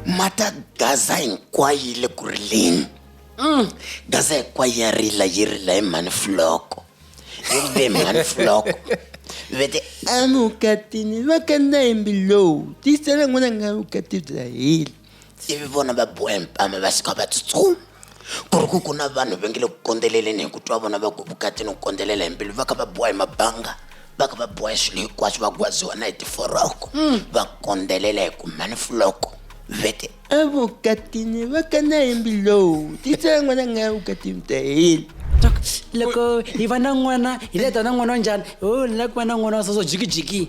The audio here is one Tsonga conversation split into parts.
mata gaza hinkwayo yi le ku rileni mm. gaza hinkwayo ya rila yi rila hi mhani fuloko yi rile hi mhani fuloko vete amukatini vakanda hi mbilowu tiyisela n'wana nga vukati bya hila ivi vona va bohe mpama va suka va tsutsuma ku ri ku ku na vanhu va nge le ku kondzeleleni hi ku twa vona va ku vukatini ku kondzelela hi mbilu va kha va boha hi mabanga va kha va boha hi swilo hinkwaswo va gwaziwa na hi tiforoko mm. va kondzelela hi ku mhani fuloko vete evukatini va kana hi mbilowu titsaya n'wana nga ya vukatini ta hina loko hi va na n'wana hi leta na n'wana wa njhani o oh, ni la ku va na n'wana wa soso jikijiki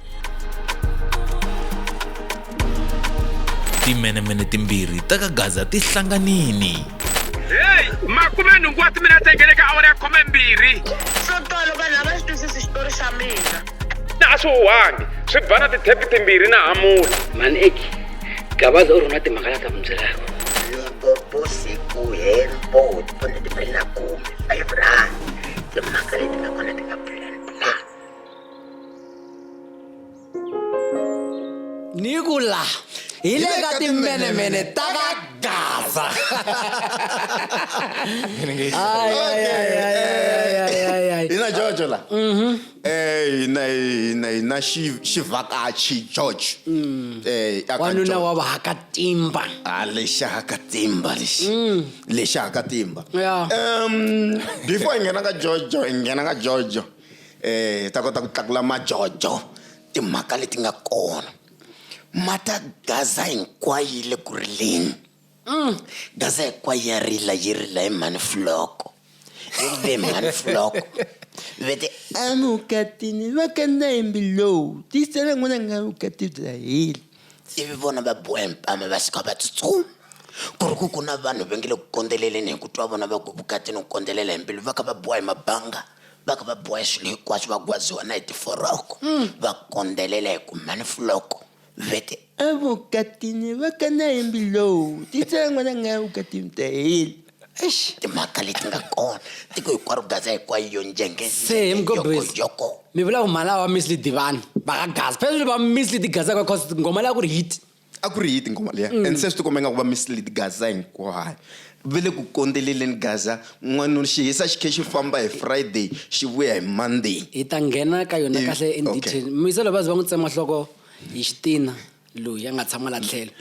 timenemene timbirhi ta ka gaza ti hlanganini heyi makume nhungu wa timinete ngele ka awara ya khome mbirhi swo tolo vanhu a va xi twisisi xitori xa mina na a swi huhangi swi ba na tithepi timbirhi na hamula mani eki gabaza u rhona timhaka la ta mundzirako loko siku hembo tona timbirhi na khume five rand timhaka leti nga kona ti nga ni ku la hi le ka timbenemene ta ka gaza hina jojo la mhm. eh, hina hina hina xivhakachi george mm. eh, wanuna wa vahakatimba ah, lexi hakatimba lexi mm. lexi hakatimba um before hi nghena ka jojo hi nghena ka jojo eh hi ta kota ku tlakula majojo timhaka leti nga kona ma ta gaza hinkwayo yi le ku rileni mm. gaza hinkwayo ya rila yi rila hi mhani fuloko yi rile hi mhani fuloko vete amukatini va kanda hi mbilowu tiyisela n'wana nga vukati bya heli ivi vona va boha mpama va suka va tsutsuma ku ri ku ku na vanhu va nge le ku kondzeleleni hi ku twa vona va ku vukatini ku kondzelela hi mbilu va kha va boha hi mabanga va kha va boha swilo hinkwaswo va gwaziwa na hi tiforoko mm. va kondzelela hi ku mhani fuloko vete evukatini va ka na yimbi lowu titsengwa na nga evukatini ta hina eish timhaka leti nga kona tiko hinkwaro gaza hinkwayo yo njengeyoko mi vula ku mhala wa misli divani va ka gaza phezulu va misli ti gazaka cause ngoma leya ku ri hit a ku ri hiti ngoma leya mm. and se swi tikomba ingaku va mislid gaza hinkwayo va le ku kondzeleleni gaza n'wanuna xi hisa xi khe xi famba hi friday xi vuya hi monday hi ta nghena ka yona kahle indetail miselo va ze va n'wi tsema nhloko hi xitina loyi a nga tshama la tlhelo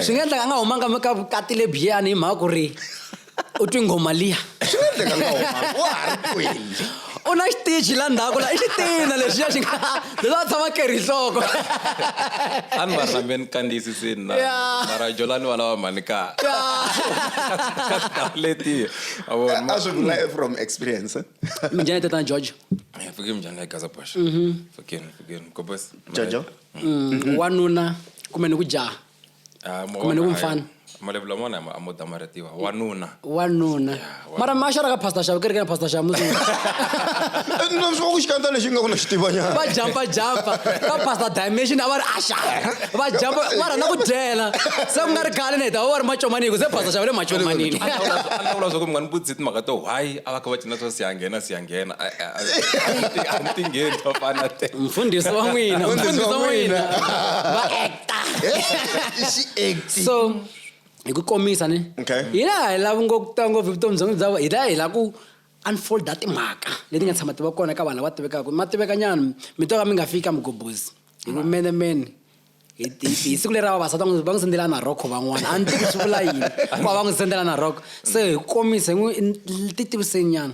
swi nga endlaka a nga humanga ka vukati lebiyani hi mhaka ku ri u twi nghoma liya swi nga endleka ngoma wa ha ri kwini u na xitiji la ndzhaku la i xitina lexiya xi nga leswi a tshama kerhi nhloko a ni va ri na me ni kandziyisisini na Yeah. mara jolani va lava mhani ka letiya a vona a swi vula from experience eh? minjhani tatana george Eh, fike mjani ya gaza bosh fikeni fikeni gobos jojo wanuna kumbe ni ku jaha Ah, mo Kumbe ni bona ku hayi. mfana. malevula mona a mo damarhetiwa wanuna wanuna wanuna. mara ma xora ka pastor xava kereke na pastor xava musi no swi va ku xikandza lexi nga ku na xitivanyana va jampa jampa ka pastor dimension a va ri asha va jampa va rhandza ku dyela se ku nga ri khale ni heta va va ri macomaniko se pastor xava le macomanini A ndzi vula- a ndzi vula swa ku mi nga ni vutisi timhaka to why a va kha va cina swa siyanghena siyanghena A- a- a- a mi tingheni vafana te mfundhisi wa n'wina Mfundhisi wa mfundhisi wa n'wina n'wina. va act so hi ku komisa ni Okay. hi laha hi lava ngo ku tiva ngopfu hi vutomi byonge bya vo- hi laha hi lava ku unfolda timhaka leti nga tshama ti va kona ka vanhu lava tivekaka ma tiveka nyana mi to ka mi nga fiki ka mugobozi hi ku mene mene hi hi- hi siku leri ra vavasati va n'wi- va n'wi sendela na rhoko van'wana a ni tivi swi vula yini ku va va n'wi sendela na rhoko se hi ku komisa hi n'wi ti tiviseni nyana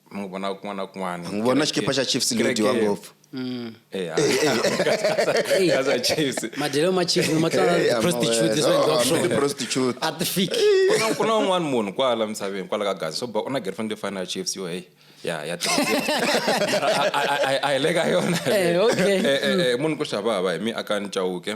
mi n'wi vona kun'wana na kun'wana n'wi vona xikipa xa chiefs leyo dyiwa ngopfu mm. eh, ah. madyelo ma chiefs matlanaprostituteprostitute a ti fiki ku na un'wana munhu kwala misaveni kwala ka gazi so ba u na girlfriend leyi fana ya chiefs yo heyi ya ya a hi le ka yona eh, eh, munhu ku xava hava hi mi aka ni cawuke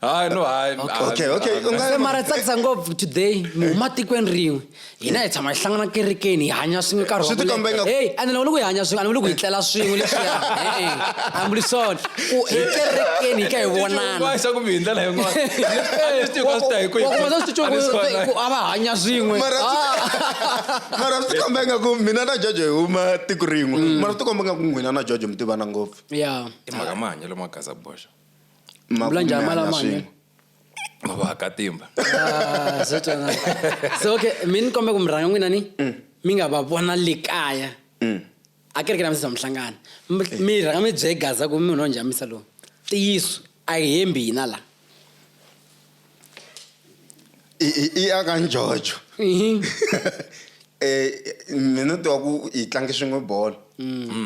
hayi no hayi okay okay u nga mara tsakisa ngopfu today mi huma tikweni rin'we hina hi tshama hi hlangana kerekeni hi hanya swin'we nkarhi swi tikomba ingaku hey a ni lava ku hi hanya swin'we a ni vuli ku hi tlela swin'we leswiya e-e a ni vuli swona ku hi kerekeni hi ka hi vonana xa ku mi hi ndlela yin'wanaku a va hanya swin'we mara swi tikomba ingaku mina na jojo hi huma tiko rin'we mara swi tikomba ingaku n'wina na jojo mi tivana ngopfu ya timhaka mahanyelo ma gaza boxa Ma Vula njhani mali ya hanya swin'we. mahanyelo? va katimba Ah, swo twana. so okay mi ni kombe ku mi rhanga n'wina ni mi nga va vona le kaya a kereke na misisa mihlangano Mi- mi rhanga mi byegaza ku mi munhu wa njhamisa lowu ntiyiso a hi hembi hina la i i i ya ka njojo um mina tiva ku hi tlange swin'we bolo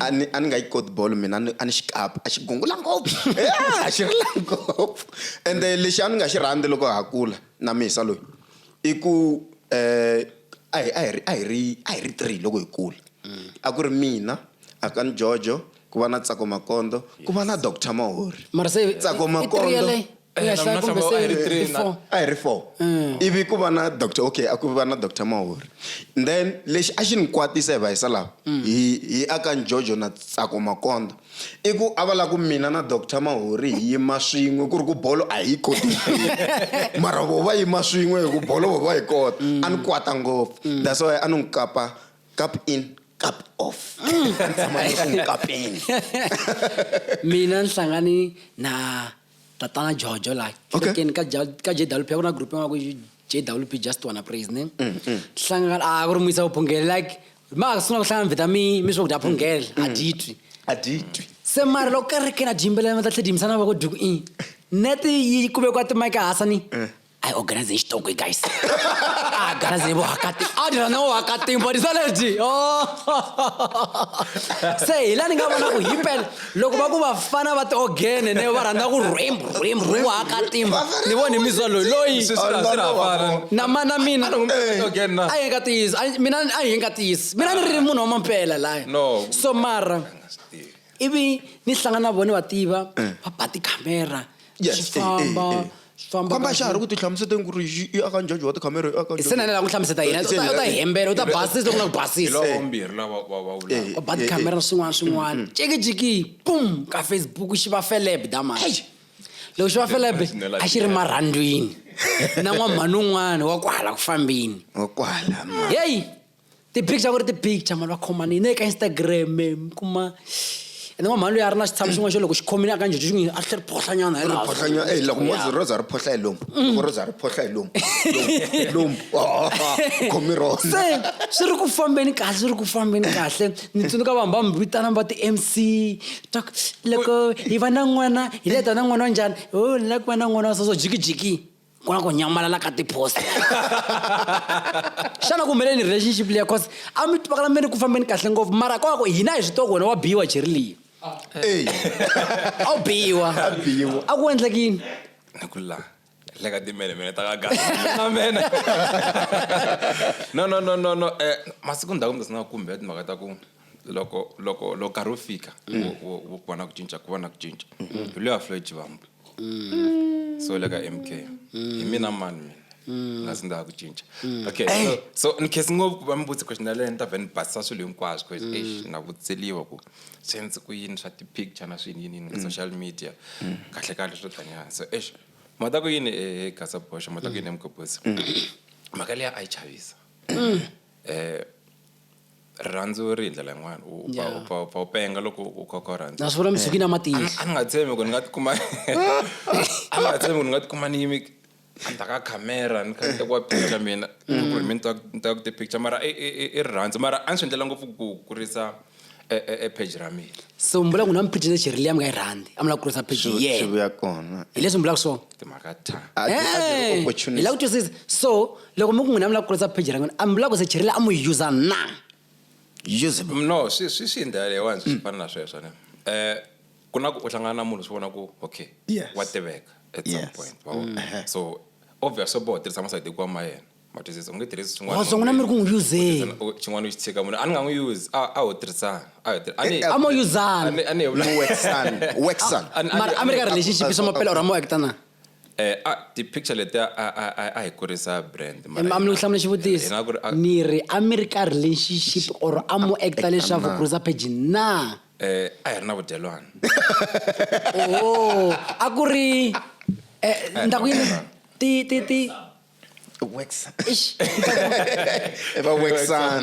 a ni a ni nga yi koti bolo mina a ni- a ni xi kapa a xi gungula ngopfu a xi rila ngopfu ende lexi a ni nga xi rhandzi loko ha kula na misa loyi i ku um a hi a hi ri a hi ri a hi ri three loko hi kula a ku ri mina a ka ni jojo ku va na tsako makondo ku va na doctor mahori mara se tsako i- i three makondo yaleyo? Eh, na mina hlamba a hi ri three na- four a hi ri four Mm. ivi ku va na doctor okay a ku va na doctor mahori then lexi a xi ni kwatisa hi va hisa lava Mm. hi hi aka njojo na tsako makonda i ku a va la ku mina na doctor mahori hi yima swin'we ku ri ku bolo a hi yi koti hinkwerhu. mara vo va yima swin'we hi ku bolo vo va yi kota Mm. a ni kwata ngopfu that's why a ni n'wi kapa cup in cup off Mm. a ni tshama ni ku n'wi kapeni mina ni hlangane na tatana jojo la kerekeni ka Ja- ka jwp ku na group yin'wana ku i jwp just wanna praise ne hlangana a ku ri muyisa vuphungeli like ma ha sungula ku hlangana vheta mi mi swakudya phungela a dyi twi a dyi twi se mara loko kerekeni a dyi yimbelela ma ta tlhe dyi yimisa na voko dyi ku i nete yi kumekwa timike hasa ni I organize hi xitoko hi guys a garazi ni vohakati a dira na vohakati body saladi oh. se hi la ni nga vona ku himpela loko va ku vafana va tiogene ne va rhandza ku rhwembu rhwembu ri vohakatimba ni voni mizwa loyi loyi na mana mina a hi nga tiyisi mina a hi nga tiyisi mina ni ri munhu wa mampela laya so mara ivi ni hlangana na vona va tiva eh. va ba tikhamera Yes, swi eh, eh, famba eh. swi famba famba kahle. xa ha ri ku ti hlamuseta ku ri yi- yi aka njaji wa tikhamera yi aka se na le la ku hlamuseta yena u ta- u ta hi hembela u ta basisa loko na ku hi basisa lava vambirhi lava va va vulaka Eh, u bad eh, camera na swin'wana swin'wana jekijiki pum ka facebook xi va feleb damani Eish! loko xi va feleb Personal a xi ri idea. marhandwini na n'wamhani un'wana wa kwala ku fambeni wa kwala ma- heyi ti-big xa ku ri ti-picture mali va khoma ni ne ka instagram mi kuma ene n'wamhani loyi a ri na xitshamo xin'wana xo loko xi khomile a ka njhejo xi n'wi a tlhe ri phohlanyana hi laha. phohlanya eh loko mo ze roza ri phohla hi lomu loko roza ri phohla hi lomu Lomu- lomu Oh, u khomi roza se swi ri ku fambeni kahle swi ri ku fambeni kahle ni tsundzuka vanhu va mi vitanaka va ti-mc ta ku, loko hi va na n'wana hi leta na n'wana wa njhani o ni lava ku va na n'wana wa soso jikijiki ku na ku nyamalala ka tipost xana ku humeleni relationship leya cause a mi tivakala mi ri ku fambeni kahle ngopfu mara kwako hina hi swi tiva ku wena wa biyiwa jeri leyi a wu biyiwa a ku endlekini ni ku la le ka timele mene ta ka gana mene no no no no no eh masiku ndhaku mi nga kumbe timhaka ta ku loko loko loko nkarhi wu fika mm. wu ku va na ku cinca ku va na ku cinca mbilu mm. ya floyd vambu mm. so le ka m k mm. hi mina mani mina mm. nga sindaka ku cinca mm. okay hey. so, so ni khesi ngopfu va mi vutsi question yaleyo ni ta vhe ni basisa swilo hinkwaswo mm. eish na vutseliwa ku swi endzi ku yini swa ti-picture na swini yini yini ka mm. social media mm. kahle kahle swo tanyana so eish mata ku yini e gasa bosha mata ku yini emgobhosi mhaka leya a yi chavisa um rirhandzu ri hi ndlela yin'wana u pfa Yeah. u pfa u pfa u penga loko u kha u kha u rhandza na swi vula mizukini ya matihlo a ni nga tshembi ku ni nga tikuma a ni nga tshembi ku ni nga tikuma ni yimi endzhaku ka camera ni kha ni tekiwa picture mina Mm. ku ri mi ni ta- ni ta ku ti-picture mara i- i i- i rirhandzu mara a ni swi endlela ngopfu ku kurisa e- e e page ra mina so mi vula ku na miphici lexi ri liya mi nga yi rhandzi a mi lava ku kurisa page Swi- ye swi vuya kona hi leswi mi vulaka swona timhaka ta A ti- a ti ri Eh, hi opportunist. lava ku twisisa so loko mi ku n'wina mi lava ku kurisa pheji ra n'wina a mi lava ku se chirila a mu yi yuza na yuze no swi swi swi ndlela leyiwani swi fana na sweswo ne um ku na ku u hlangana na munhu swi vona ku okay Yes. wa tiveka at some Yes. point wa vona? Mhm. so obvious swo boha u tirhisa masayiti hikuva ma yena ma twisisa u nge tirhisi swin'wana Wazo n'wina mi ri ku n'wi yuzeni. U- xin'wana u xi tshika munhu a ni nga n'wi yuzi a a ho tirhisana a ho tir- a ni- Eh, eh, a mo yuzana. a ni- a ni- Mu waxana, waxana. A- a- a- Mara a mi ri ka relationship, swa maphela or a mo act-a na? Eh, a ti-picture letiya a, a, a, a hi kurisa brand mara mami ni ku hlamula hi xivutiso nga ku ri, a- ni ri a mi ri ka relationship or a mu acta leswaku na. cruiser page na eh, a hi ri na vudyelwana o a ku ri eh, ni ta ku yini ti ti ti Wexa. ixi ni ta ku- Eva Wexan.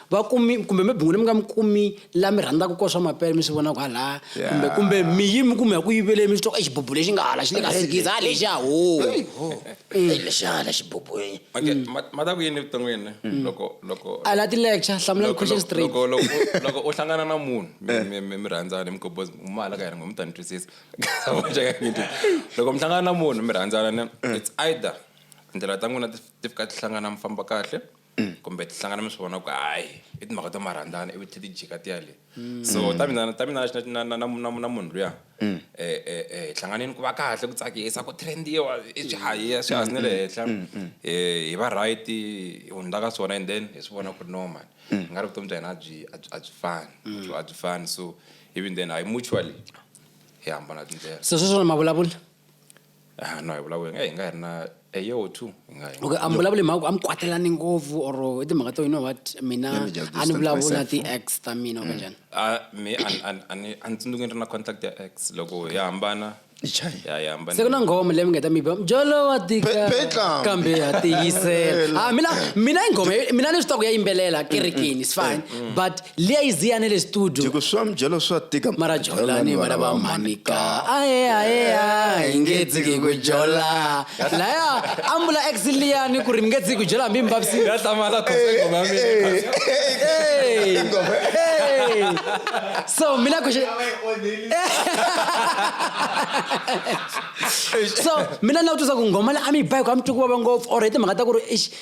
va kumi kumbe mi bingwini mi nga mi kumi la mi rhandzaka ko swa mapele mi swi vona ku hala kumbe kumbe mi yi mi kume ya ku yivele mi swi twa ka xibubu lexi nga hala xi le ka sikiza ha lexi ya ho lexi hala xibubu okay mm. ma ta ku yini evuton'wini mm. loko loko a la ti-lecture hlamula question straight loko loko loko u hlangana na munhu mi mi mi rhandzana mi koboza u mala ka yena ngo mi ta ni twisisa loko mi hlangana na munhu mi rhandzana ne it's either tindlela ta n'wina ti fika ti hlangana mi famba kahle kumbe ti hlangana mi swi vona ku hayi i timhaka ta marhandzana ivi tlhe ti jika ti ya le mm. so ta mina ta mina na na na na munhu luya mm. eh, eh, eh, hi hlanganeni ku va kahle ku tsakisa ku trendiwa i swi hayiya swi hansi ne le henhla mm, hi va right hi hundza ka swona and then hi swi vona ku ri normal hi nga ri vutomi bya hina a byi a byi fani a byi fani so even then hayi mutually hi hambana tindlela so sweswona mavulavula Ah, no a hi vulavuli nga hi nga hi ri na a year or two hi nga hi nga- okay a mi vulavuli hi mhaka ku a mi kwatelani ngopfu or i timhaka to you know what mina Let me just a ni distance vulavuli na myself. ti-ex ta mina kumbe njhani a me a ni- a ni- a ni a ni tsundzuki ni ri na contact ya ex loko hi hambana Hi chaya. ya hi hambana se ku na nghoma leyi mi nga ta mi ba mjolo wa tika Pe- petla. kambe ha tiyisela Ah, mina mina i nghoma yo- mina ni swi tiva ku ya yimbelela kerekeni is fine but liya iziyane le studio Tiko swa mjelo swa tika mara jolani vana va manika ae ae ae nge dziki ku jola laya ambula ex liyani ku ri mi nge dziki ku jola hambi mi vavisi ya hlamala khose ngoma mina Hey! Hey! so mina ku so mina na ku tisa ku ngoma le a mi yi bayi ku a mi twi ku vava ngopfu or hi timhaka ta ku ri ix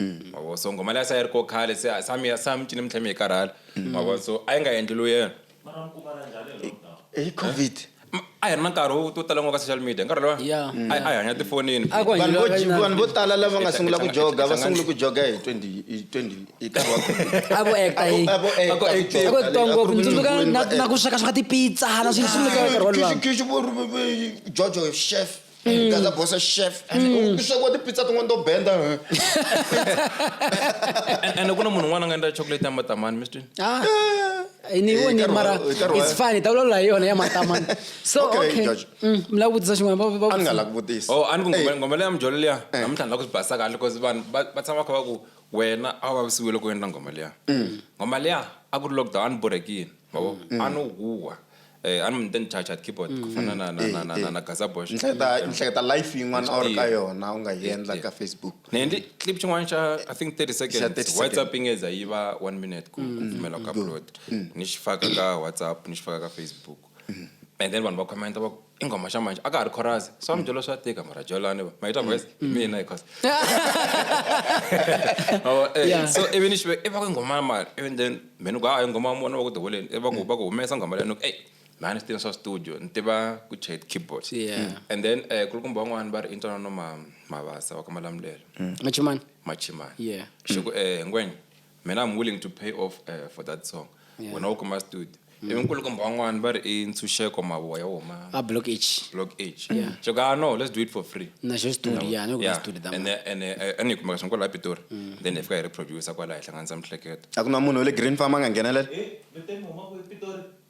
mm. mavo so ngoma leya se a yi ri ko khale se sa mi ya sa mi cini mi tlhe mi yi karhala mm. mavo so a yi nga endli lo yena hi covid eh? a hi ri na nkarhi wo to tala ngwa ka social media nkarhi lowa mm. a hi hanya tifonini vanhu vo tala lava nga sungula ku joga va sungule ku joga hi 20avoaktangopfundzuka na ku sweka sweka tipizza na swilo sunguleka nkarhi wolowajojo chef Gaza boss chef. Mm. Pizza kwa pizza tungo ndo benda. And kuna munhu un'wana nga endla chocolate ya matamani, Mr. Ah. ni eh, voni mara it's funny ta vulavula hi yona ya matamani so okay mm, mi lava vutisa xin'wana a ni nga lava ku vutisa oh a ni ku eh. ngoma leya mijolo liya eh. namuntlha ni lava ku swi basa kahle because vanhu va tshama kha va ku wena a wu vavisiwile ku endla ngoma liya mm. ngoma liya a ku ri lockdown a ni borhekile yabo mm. mm. anohuhwa eh ani mi then charge at keyboard mm, ku fana mm. na na eh, na na eh. na Gaza Bosch nhleta nhleta live yin'wana or ka yona u nga yi endla ka Facebook ne ndi clip xin'wana xa i think 30 seconds WhatsApp ingeza yi va 1 minute ku kumela ka upload ni xifaka ka WhatsApp ni xifaka ka Facebook and then vanhu va comment va i nghoma xa manje a ka ha ri chorus swa mi byela swa tika mara jolani va mayita voice hi mm. mina because eh, so ivi ni xive i va ku nghoma ya mali ivi then me ni ku hayi nghoma ya mona va ku tiholeni i va ku va ku humesa nghoma leyi ni ku ey mhani swi tiva swa studio ni tiva ku chat keyboard mm. and then um eh, kulukumba van'wani va ri i ntwanano ma mavasa wa ka malamulelo mm. machimani machimani xi ku um eh, ngwenya mina i'm willing to pay off uh, for that song yeah. wena u kuma studio mm. ivi nkulukumba wan'wana va ri i ntshunxeko mavoya woma a block h block h yeah. so ka ah, no let's do it for free na xo studio no. yeah, no, yeah. studio da and and eh, and ikumeka swi kwala pitori mm. then ifika hi ri producer kwala hi hlanganisa mihleketo a ku na munhu wa le green farm a nga nghenelela eh,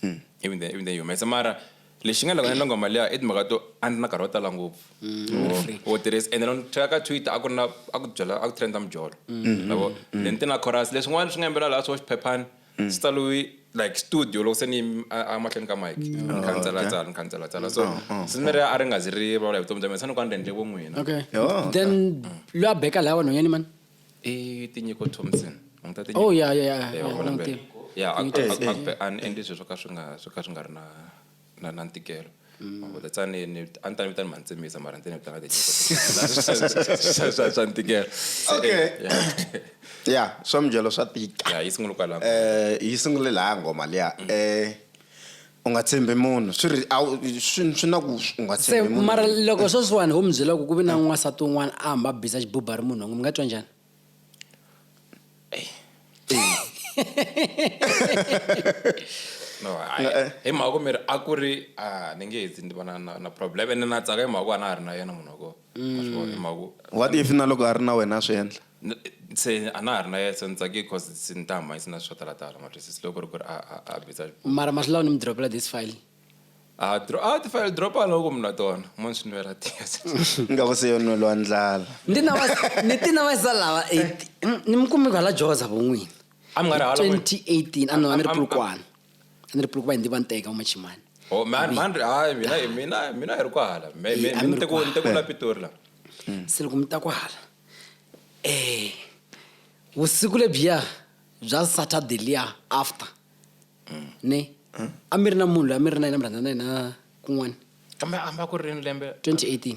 hmm. even then even then yi humesa mara lexi nga loko na ngoma leya i timhaka to a ndzi na nkarhi wo tala ngopfu mm. wo tirhisa ende loko tlhela ka twitter a ku ri na a ku byela a ku trenda mijolo mm-hmm. lavo mm-hmm. then ti na chorus leswin'wana swi nga yimbelela laha swo xiphephani mm. swi taliwi like studio loko se ni amahlweni ka mike ni mm. khandzela oh, tsala ni khandzela tsala so oh, oh, se ni ri a ri nga zi ri vulavula hi vutomi bya mina se ni ku a ni rendle vo n'wina then lwa beka laha vanhwanyani mani i tinyiko thompson oh ya ya ya ya vona mbele ya and and sweswo swo ka swi nga swo ka swi nga ri na na na ntikelo mabuda mm. tsani ni a ni ta ni vitani mantsemisa mara ni ta ni vitana tinyiko swa ntikelo okay ya swa mujelo swa tika ya yi sungule kwala eh yi sungule laha ngoma liya mm. eh u nga tshembi munhu swi ri a swi swi na ku u nga se tshembi munhu mara loko sweswiwani ho mi byela ku ku vi na n'wansati un'wana a hamba a biza xibuba ri munhu mi nga twa njhani no hayi hi mhaka ku mi ri a ku ri a ni nge hetsi ni va na na na problem ene na tsaka hi mhaka ku a na ha ri na yena munhu wa kona Ma swi vona? Hi mhaka ku- Mm. what if na loko a ri na wena a swi endla N- se a na ha ri na yena se ni tsakile because se ni ta hambanyisa na swo talatala ma twisisa loko ri ku ri a a a biza mara mahlulawu ni mi dropela this file a dro a ti file drop a loko mina tona mo ni swi nwela tiya se nga ku se yo nwelo wa ndlala Ndi na wa- ni ti na wayisa lawa 18 ni mi kumi kwala joza von'wini a mi nga ri hala n'wina? 2018 a no a ni ri Am- am- pulukwana a ni ri pulukuva hindi va nteka umachimani oh, mina mina hi ri kwahala ntekula pitori la mm. se loko mi ta kwahala um eh, vusiku lebyiya bya saturday liya after mm. ne mm. a mi ri na munhu loyi a mi ri na yena mi rhandza na yena kun'wana kambe a mba ku ri rini lembe 2018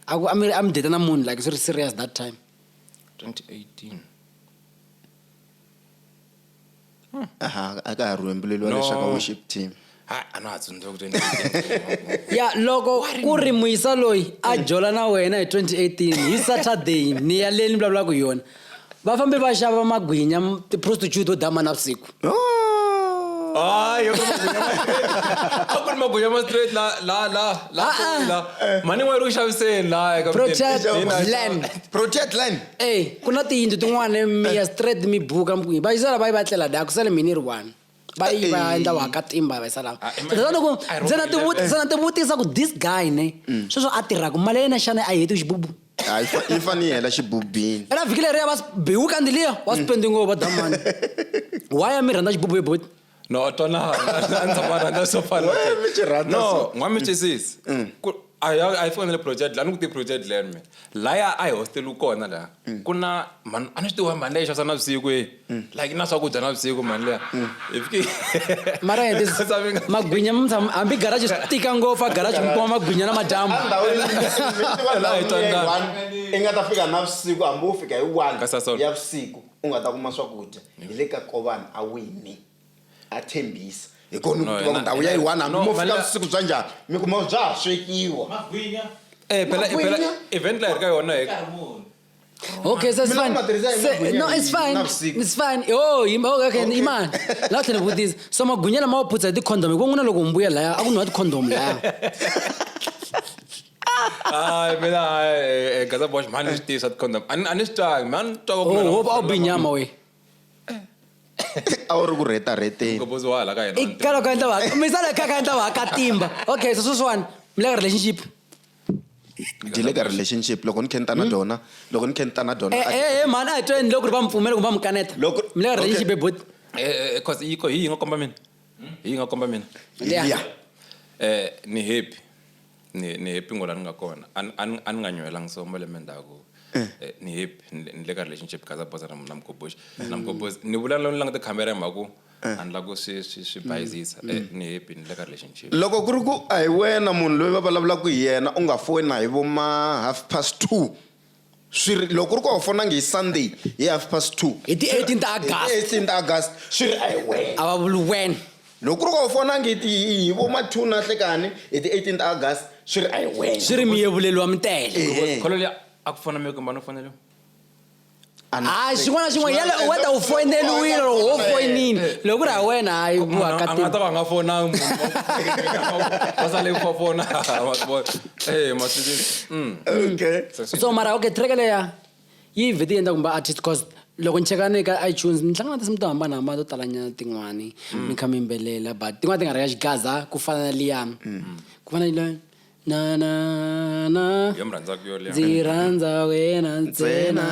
a ku a mi a mi date na munhu like swi ri serious that time 2018 hmm. aha a ka ha rhwembuleliwa no. lexaka worship team ya loko ku ri muyisa loyi a hmm. jola na wena hi 2018 hi saturday ni ya leyi ni vulavulaka hi yona va fambe va xava magwinya tiprostitute to dama na vusiku oh. hayi a ku ri magunya ma straight la la la la ah, ah. la mani n'wana ri ku xaviseni laha eka protect land protect land ey ku na tiyindlu tin'wana miya straight mi buka mkwihi va yisala va yi va tlela daya ku sale mini ri one va yi va Ey. endla waka timba va yisa lava Ah, ima- Kutani loko I ndzi na wrong tivuti- ndzi na tivutisa ku this guy ne sweswo a tirhaka mali ya yena xana a yi heti xibubu Ah, yi fa- yi fanele yi hela xibubini ela vhiki leriya va biwu kandziliya wa spendi ngopfu va damani why a mi rhandza xibubu yo boti no twanana n'wamichesisi a ya a yi fanele project la ni ku ti project land me laya a hi hosteliwi kona laha mm. ku na mhani a ni swi tiwa mhani leyi xavisa na vusiku e mm. like na swakudya na vusiku mhani leya mm. hi fike mara magwinya hambi garaji swi tika ngopfu a garaji mi kuma magwinya na madyambu i nga ta fika na vusiku hambi wo fika hi one ya vusiku u nga ta kuma swakudya hi le ka kovani a wini a tshembisa hi kona ni ku tiva ku ndhawu ya yiwani hambi mo fika vusiku bya njhani mi kuma bya ha swekiwa eh, event la hi ri ka yona hi Okay, so it's fine. no, it's fine. It's fine. Oh, okay, okay. okay. Iman. La tlhela vutisa. So magwinya lama wa phutsa hi ti-condom. Hi ku n'wina loko mbuyela laya, a ku nwa ti-condom laya. Ai, mina ai, eh, gaza bosh man is this at condom. An an is tag man to go. Oh, hope I'll be nyama we. a wu ri ku rheta rheteni Go bozo wala ka yena. I kalo ka ndla wa. Mi sala ka ka ndla wa ka timba. Okay, so sweswan. Mi le relationship. ndzi le ka relationship loko ni khenta na dona loko ni khenta na dona Eh a- eh eh man a tweni loko ri va mpfumela kumbe va mukaneta. Loko- Mi le ka relationship okay. bot. Eh, eh, cause iko hi nga komba mina. Hi nga komba mina. Yeah. Yeah. Eh, ni happy. ni ni happy ngo la ni nga kona a ni- a ni- a ni nga nyuhelanga so malembe ndzhaku eh, ni happy ni le- ni le ka relationship kaza bosa na na mgoboxi na mgoboxi ni vulavula ni languta khamera hi mhaka ku a ni la ku swi swi swi bayizisa Eh, ni happy ni le ka relationship loko ku ri ku a hi wena munhu loyi va vulavulaka hi yena u nga fona hi vo ma half past two Swi ri, loko ku ri ku a wu fonangi hi Sunday hi half past two. Hi ti 18 ta Hi ti August. 18 ta August. Swi ri, a hi wena. A va vuli wena. Loko ku ri ku a wu fonangi hi ti, hi, hi vo ma two na nhlekani hi ti 18 ta August. Swi ri, a hi wena. Swi ri mi yevuleliwa mi tele. Ehe. Kholo liya a ku fona mi yo kumba no foneliwa. A ni- Hayi xin'wana na xin'wana yale u whether u foyineliwile or ho foyinile. Loko ku ri ha wena hayi ku Munhu a nga ta hakatima. va a nga fonangi munhu. Va sale ku va fona. Ma swi vona. Eh, matswitswitsi. Mm. okay so mara okay track leya yi vhete yi endla kumbe artist cause loko ni cheka ni ka itunes ni hlangana na tinsimu to hambanahambana to talanyana tin'wani mi kha mi yimbelela but tin'wana ti nga ri ka xigaza ku fana na liya ku fana na liya na na na Yo mi rhandzaka yo liya. ndzi rhandza wena ntsena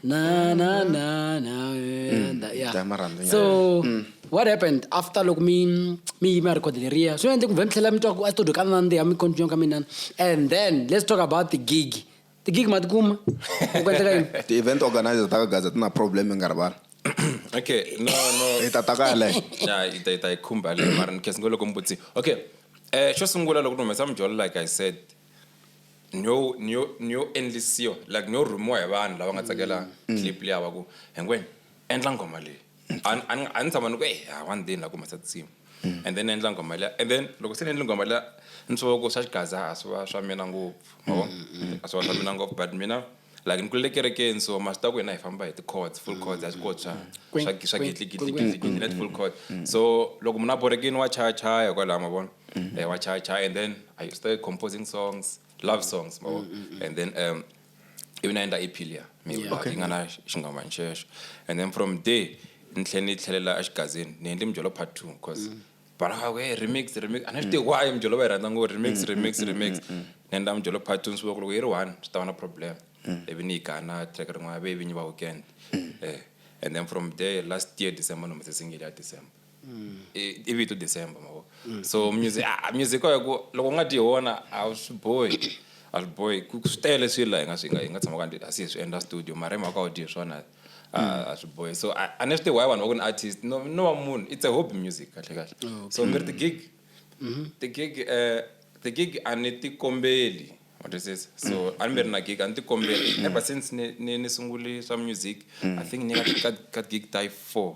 na na na na wena ya Ta marhandzu nyana. so what happened after loko mi mi yima record leriya swi endle ku vhe mi tlhela mi twa ku a studio ka nandziha mi continue ka minana and then let's talk about the gig tigig ma tikuma ku endleka yini ti-event organizer ta ka gaza ti na problem i nga rivala okay no no hi ta ta ka yaleyo ya yi ta yi ta yi khumba leyo mara ni khensa ngo loko mi vutisi okay um xo sungula loko ni humesa mijolo like i said niyo niyo niyo endlisiwa like niyo rhumiwa hi vanhu lava nga tsakela clip liya va ku hinkwenu endla nghoma leyi a ni tshama ni ku e ha one day ni la ku humesa tinsimu mm. and then ni endla nghoma liya and then loko se ni endle nghoma liya ni swi va ku swa xigaza a swi va swa mina ngopfu mavo mm, mm, a swi va swa mina ngopfu but mina like ni kulele kerekeni so masi ta ku hina hi famba hi ti-cords full cords a swi koti swa swa gidligidligidligidli na ti-full cord so loko munhu a borekini wa chaya chaya kwalaho ma vona eh, wa chaya chaya and then i started composing songs love songs ma vona and then um i vi na endla appeal ya mi Yeah. Okay. yi nga na xingambani xexo and then from there ni tlhela ni tlhelela exigazini ni endle mijolo part two because bana va ku hey remix remix a ni swi tivi why mijolo va yi rhandza ngo remix remix remix ni endla mijolo part two ni swi vona ku loko yi ri one swi ta va na problem ivi ni yi gana track rin'wana ve vinyi va weekend eh and then from there last year december ni humese single ya december mm. i vito december mavo mm. so music ah, music ko ku loko u nga ti hona a swi bohi a swi bohi swi tele swilo laha hi nga swi nga hi nga tshama ka asi hi swi endla studio mara hi mhaka u dye swona a mm. swi bohi so a ni swi tihi why vanhu va ku ni artist no no wa munhu it's a hobby music kahle kahle oh, so mi ri ti-gig mm-hmm. ti-gig um ti-gig a ni ti kombeli matwisisa so mm. a ni mi ri na gig a ni ti kombeli ever since ni ni ni sunguli swa music i think ni ka ka gig type four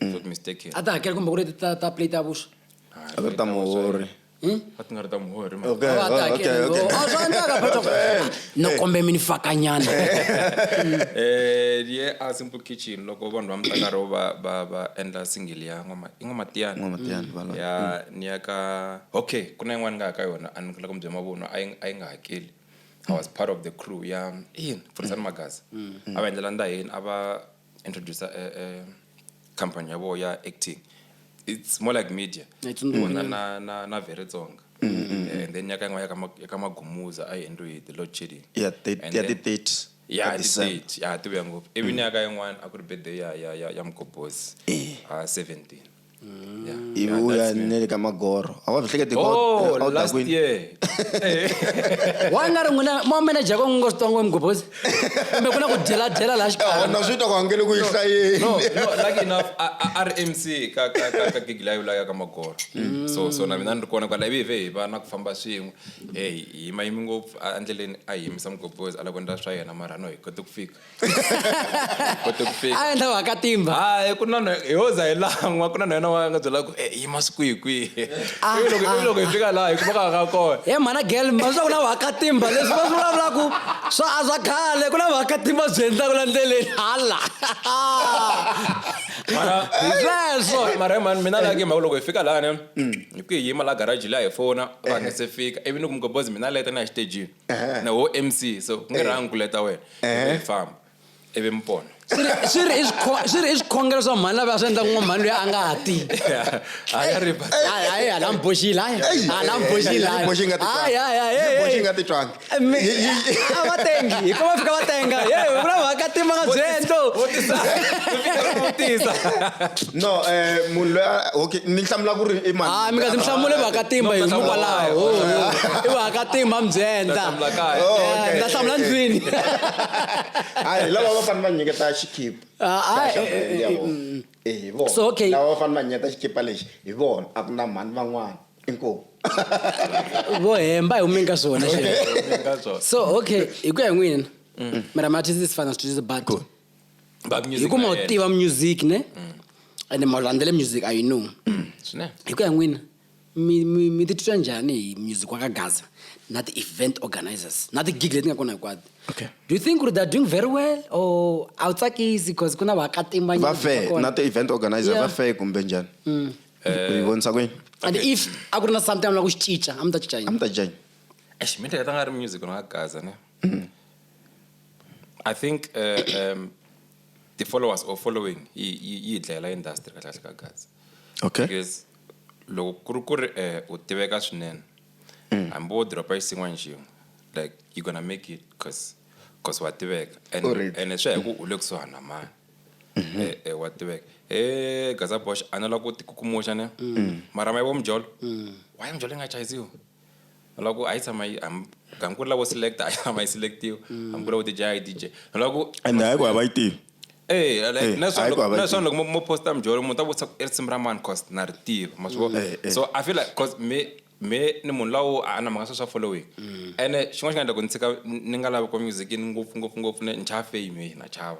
swa ku mistake a ta hakela kumbe ku ri ti ta ta plate ya vuswa a ku ri ta muhori Hmm? a ti nga ri ta muhori mhaka. okay Ava ta oh, okay hakela, okay oh, swa endleka, but of- no kombe mi ni fakanyana Eh, ye a simple kitchen loko vanhu va mutakaro va va va endla single ya n'wama- i n'wamatiyana N'wamatiyana, valwa. ya ni ya ka okay ku na yin'wana ni nga ya ka yona a ni kula kumbe mavunwa a yi a yi nga hakeli i was part of the crew ya in furisani magazi a va endlela ndaheni a va introducer eh, eh, company ya vona ya acting it's more like media I don't know. vona na na na very tsonga Eh, and then nyaka yin'wana ya ka Ma- ya ka magumuza a yi endliwe hi the lord chilling ya And ti- ya then- ti-30 ya ka December. ti-date ya tivuya ngopfu ivi nyaka yin'wana a ku ri birthday ya ya ya ya mgobozi ha 17 ivi u ya ne le ka magoro a wa byi hlekete oh, a wu ta kwini wa nga ri n'wina mo manager ko ngo switongo emugobhozi kumbe ku na ku dyela dyela laha xikarhina swi ta ku hangele ku yi hlayeni lucky enough a ri mc ka ka ka ka gigi layo laya ka magoro mm. so so na mina ni ri kona kwala ivi hi va na ku famba swin'we hey hi mayimi ngopfu a ndleleni a hi yimisa mugobhozi a lava ku endla swa yena mara no hi kote ku fika kote ku fika a endla wa ka timba hayi ku na hi hoza hi lan'wa ku na na yena wa nga byela ku e yi masiku hi kwihi ah, ivi ah, loko hi ah. fika laha hi kuma ka nga kona he mhana gel ma swa ku na wa ka timba leswi va swi vulavulaku swa a swa khale ku na wa ka timba byi endlaku la ndleleni hala sweswo mara hi mani mina laki mhaka loko hi fika laha ne mm. hi ku hi yima la garaji laha hi fona va nga se fika ivi ni ku mugobozi mina leta na hi xitejini na wo mc so ku nga ri ankule ta wena ivi hi famba ivi mi pona swi ri- swi ri i swikho- swi ri i swikhongelo swa mhani lava swi endla ku n'wamhani loyi a nga ha ti a ya ri hayi hayi hala mi boxile hayi Eyi, hala mi boxile yi boxe yi nga titwangi. hayi hayi hayi Yi boxe yi nga titwangi. Mi- Yi- yi- yi- a va tengi hi ko va fika va tenga ye ku na mhaka tima nga byendlo vutisa vutisa no um munhu loyi okay ni hlamula ku ri i mani hayi mi nga ndzi hlamule vakatimba hi mukwalaho i vakatimba mbyenta ndza hlamula ndlwini hayi lava va fanele va nyiketa xikhipa hi vona lava va fanele va nyiketa xikhipa lexi hi vona a ku na mhani van'wana inkomu vo hemba hi humeni ka swona so okay hi ku ya hi n'wina mara mathisi sifana sithuthisa bato ba music hikuva na ma wu yena. tiva music ne ende ma wu landzele music i know Swinene. hi ku ya n'wina mi- mi mi titwa njhani hi music wa ka gaza na ti-event organizers na ti-gig leti nga kona hinkwato Okay. do you think ku ri they're doing very well or a wu tsakisi because ku na va fair na ti-event organizer Yeah. va fair kumbe njhani u yi vonisa kwini and if a ku ri na something a mi lava ku xi cinca a mi ta cinca a yini mi ta janye Eish, mi ehleketa nga ri music na gaza ne I think the followers or following yi dlayela industry kahle kahle ka Gats. Okay. Because loko ku ri ku ri eh, u tiveka swinene mm. hambi wo dropa xin'wana xin'we like you gonna make it cause cause wa tiveka and and swi ya hi ku u le kusuhani na mani mm-hmm. eh, eh, wa tiveka e gaza bosh a na la ku tikukumuxa ne mm. mara ma yivo mjolo mm. waye mjolo yi nga chayiziwa na ku a yi tshama yi hambi ku ri lavo select a yi tshama yi select-iwa mm. hambi ku lavo dj a yi dj na ku and hayi ku hava yi tivi Eh, eh, na swona loko mo posta mijolo munhu ta vutisa i risimu ra mani cause na ri tiva ma swi vona eh, so i feel like cause me me ni munhu lawo a na mhaka swa swa following mm. ene xin'wana xi nga endla ku ni tshika ni nga lavi ku music ni ngopfu ngopfu ngopfu ni chava fame na chava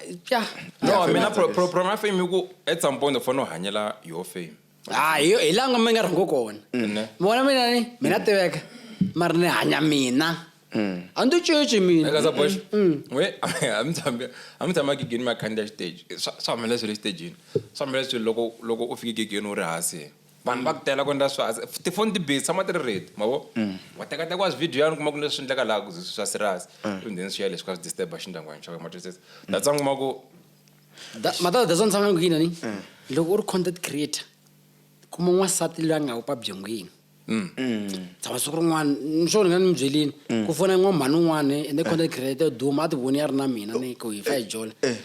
ja no mina pro- pro- problem ya fame i ku at some point u fanele u hanyela your fame ha hi hi langa mi nga rhangi kona ne vona mina ni mina tiveka mara ni hanya mina a ni ticinci mina eka za bosh we a mi tshami a mi tshama gigini mi ya khandziya xiteji swa swa humelela swilo exitejini swa humelela swilo loko loko u fike gigini u ri hansi vanhu va ku tela ku endla swa tifoni ti busy tshama ti ri ready ma vo mm. wa tekateka wa swivideo yani kuma ku leswi endleka laha swa serious mm. ivi then swi ya leswi ka swi disturba xindyangwani xa wena matwisisa that's why kuma ku matata that's why ni tshama ni ku yini ni mm. loko u ri content creator kuma n'wansati loyi a nga wu pabyengwini tshama siku rin'wana ni swo ni nga ni mi byelini ku fona n'wamhani un'wana ende content creator duma a ti voni ya ri na mina ni ku hi fa hi jola eh, eh.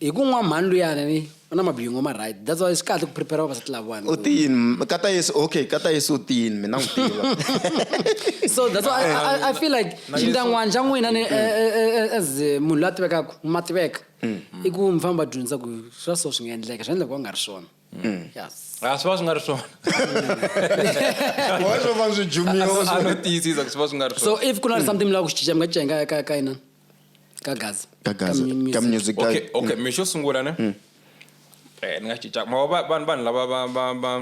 hi ku nwa mhani luyani ni u na mabyingo ma right that's why swi kahle ku prepare vavasati lavawani u tiyini kata yesu okay kata yesu u tiyini mina n'wi tiva so that's why I, I, I feel like xindangwana xa n'wina ni as munhu la tivekaka ma tiveka i ku mi famba dyondzisa ku swa so swi nga endleka swi endla ku va nga ri swona yes a swi va swi nga ri swona swo va swi jumiwa ano tiyisisa ku swi va swi nga ri swona so if ku na something mi lava ku xi cinca mi nga cinca ka ka inani ka gaza Ka Gaza, mu- ka music. music guy. okay okay mi xo sungula ne eh ni nga xi cinca ma va vanhu vanhu lava va va va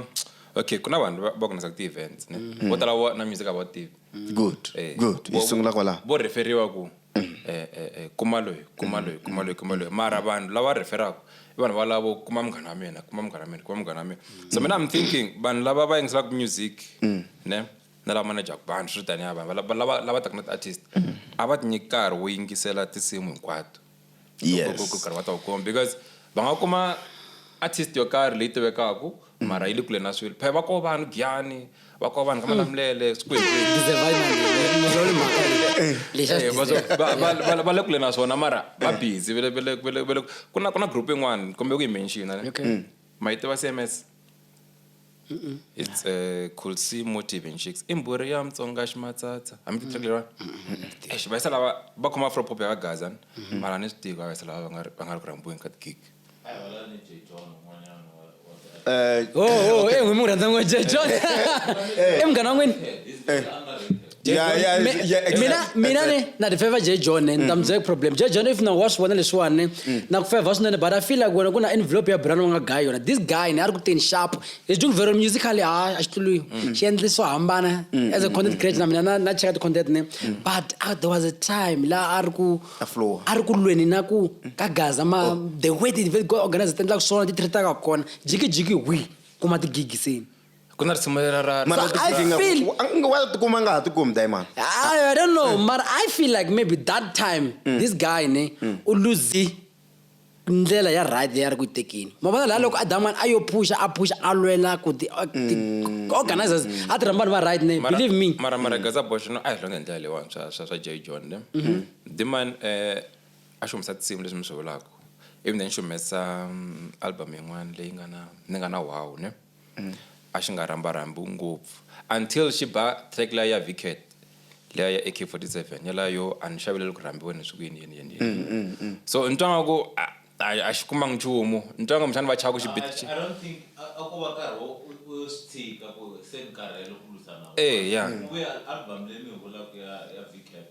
okay ku na vanhu va- va ku nasa ti-events ne vo tala wa- na music a va wu tivi good Eh, good hi vo- sungula kwalaho vo referiwa ku eh, eh, eh, kuma loyi kuma loyi kuma loyi kuma loyi mara vanhu lava referaka i vanhu valavo kuma munghana wa mina kuma munghana wa mina kuma munghana wa mina so mina i'm thinking vanhu lava va yingiselaka music ne na lava manejaka vanhu swi ri tani ya vanhu lava lava lava taka na ti-artist mm. a va tinyiki nkarhi wo yingisela tinsimu hinkwato karhi va ta wu kuma because va nga kuma artist yo karhi leyi tivekaka mm. mara yi le kule na swilo phela va koho vanhu giyani va koho vanhu ka mm. malamulele swikweletiva le kule na swona mara va busy ku na group yin'wana kumbe ku yi mentionane mayitiva cms mm -mm. it's uh, eh, coolsea motive and chicks i mbhuri ya mutsonga ximatsatsa hambi ti tsakile vanhu exi va yisa lava va khoma afropop ya vagaza mm-hmm. mara ni swi tivi va yisa lava va nga ri ku rhambiweni ka tigig eh, oh, oh, eh, n'wi munghana n'wini Yeah, yeah, Mi- yeah, exact- mina mina exact. ni na ti favor J John ni ta mi byela problem J John if na wa swi vona leswiwani na ku favor swinene but I feel like wena ku na envelope ya brand wa nga guy yona this guy ni a ri ku teni sharp he's doing very musically ha a xi tuluyi xi endli swo hambana as a content creator na mina na na cheka ti content ni but ah, there was a time la a ri ku A flow. a ri ku lweni na ku ka gaza ma the way they go organize ti endlaka swona ti treataka kona jiki jiki wi kuma ti gig seni ku na risimu leri ra ra- Mara So I Tinga, feel- wa- a nga- wa tikuma a nga ha tikumi diamond I, I don't know, but I feel like maybe that time this guy ne u lose ndlela ya right leyi a ri ku yi tekeni ma vona laha loko adaman a yo phusha a phusha a lwela ku ti a- ti- organizers a ti rhamba vanhu va right ne Mara- believe me mara mara gaza bosh no a hi longe hi ndlela leyiwani swa swa swa jay john ne diman eh a xi humesa tinsimu leswi mi swi vulaka ivi then xi humesa mm, album yin'wana leyi nga na ni nga na wow ne a xi nga rhambarhambiwi ngopfu until xi ba track liya ya Vickett liya ya AK47 yalayo yo a ni xaveleli ku rhambiwa ni swi ku yini yini yini yini. Mm, mm, mm. so ni twa nga ku a- a a xi kumanga nchumu ni twa nga mixana va chava ku xi I, bit- xi- I don't think a a ko va nkarhi wo u u swi tshika ku se ni karhele ku lwisana na vona. Eh, ya. Ku vuya album leyi mi yi vulaku ya ya Vickett.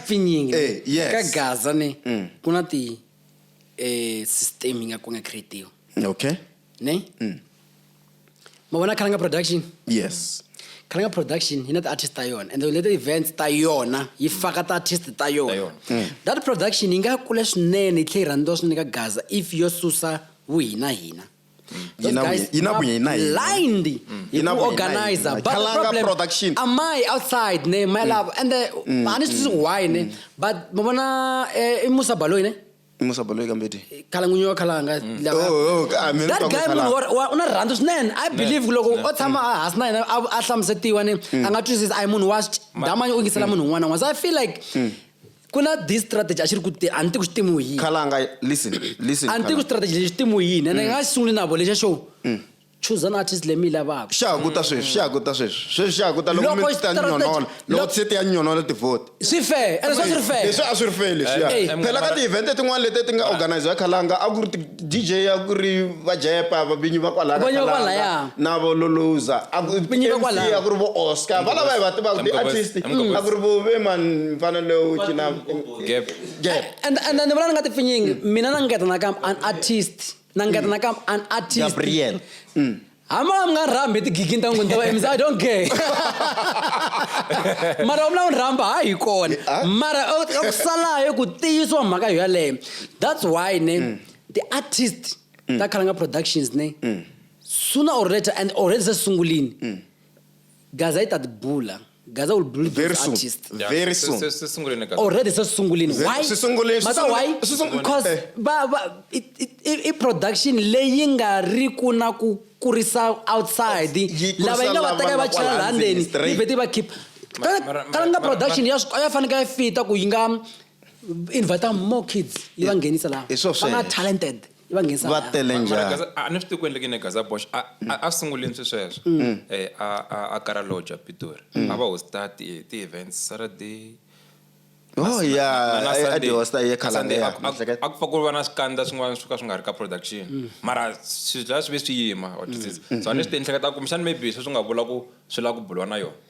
pfinyingi Eh, yes. ka gaza ne Mm. ku na ti eh system yi nga ku nga creatiwa okay ne Mm. ma vona khalanga production yes khalanga production yi na ti-artist ta yona and leta events ta yona yi faka ti-artist ta yona yona. Mm. that production yi nga kule swinene yi tlhe yi rhandziwa swinene ka gaza if yo susa vuhinahina Those Yinabu- guys Yinabu are yena yena. blind hi Yinabu ku yena organizer yena. but the Kalanga problem production. Mm. am I outside ne my love and the ani swi twisisi why ne but mi vona eh, i Musa Baloyi ne musa baloyi kambeti khalangunyo wa khalanga lava- Oh, oh, ah, mina ni that twa ku guy Khalanga. munhu wa- wa- u na rirhandzu swinene i believe ku loko o tshama a hansi na yena a a hlamusetiwa ni a nga twisisi a hi munhu wa damanye u yingisela munhu un'wana na un'wana so i feel like ku na this strategy a xi ri ku a ni ti ku xi timiwi yini khalanga listen listen a ni ti ku strategy lexi timiwi yini ene mm. nga xi sunguli na vo lexa show mm. choose an artist leyi mi yi lavaka xa ku ta sweswi xa ku ta sweswi sweswi xa ku ta loko mi ta nyonola loko se ti ya nyonola tivote swi fair ene swa swi ri fair leswi a swi ri fair leswiya phela ka ti-event tin'wana leti ti nga organize ya khalanga a ku ri DJ ya ku ri va Jepa vabinyi va kwalaya ka Vabinyi va Kalanga, kwalaya. na vo Luluza a ku Vabinyi va MC kwalaya. a ku ri vo Oscar va lava hi va tivaka Amgobas- ti-artist Amgobas. a ku ri vo ve mani mfana lowu cina Gap. Gap. and and ni vula ni nga tipfinyingi mina na ngeta nakambe an artist na ngeta nakambe an artist Gabriel. hama mi nga rhambi hi tigigini ta n'wini ta va mc i don't care mara u vula u rhamba ha hi kona ah. mara a ku salayo ku tiyisiwa mhaka yo yaleyo that's why ne mm. ti-artist mm. ta khalanga productions ne mm. sooner or later and already se sungulini Gaza yi ta ti bula. Gaza will bully Very those soon. artists. Yeah, Very se- soon. se- se sunguleni ka- Already se sungulini. Ze- Why? se sunguleni, se Mata sunguleni, why? se sunguleni. Because Eh. ba ba i- i- i- i production leyi nga ri ku na ku kurisa outside Yi kurisa lava yi nga va lava teka yi va nga chela kwala laha ndzeni ndzeni, straight. yi vhete yi va keep Ma- mara- mara- kalanga mara- production ya swi- ya faneke ya fita ku yi nga invita more kids yi va nghenisa laha Hi swo va nga sweswo. talented yi va nghenisa va laha. tele Mara njhani Gaza- a ni swi tivi ku endlekini gaza bosh a a- a sungulini swi sweswo Mm. Eh, a a- a kara lodge a pitori Mm. a va hosta ti- ti-events saturday oh ya na- na Sunday. adiosta ye Na Sunday, a- khalanga a- a ku pfa ku va na swikandza swin'wana swo ka swi nga ri ka production Mm. mara swilo swi ve swi yima wa twisisa. so a ni swi ti ehleketa kumbexani maybe sweswi nga vula ku swi lava ku buliwa na yona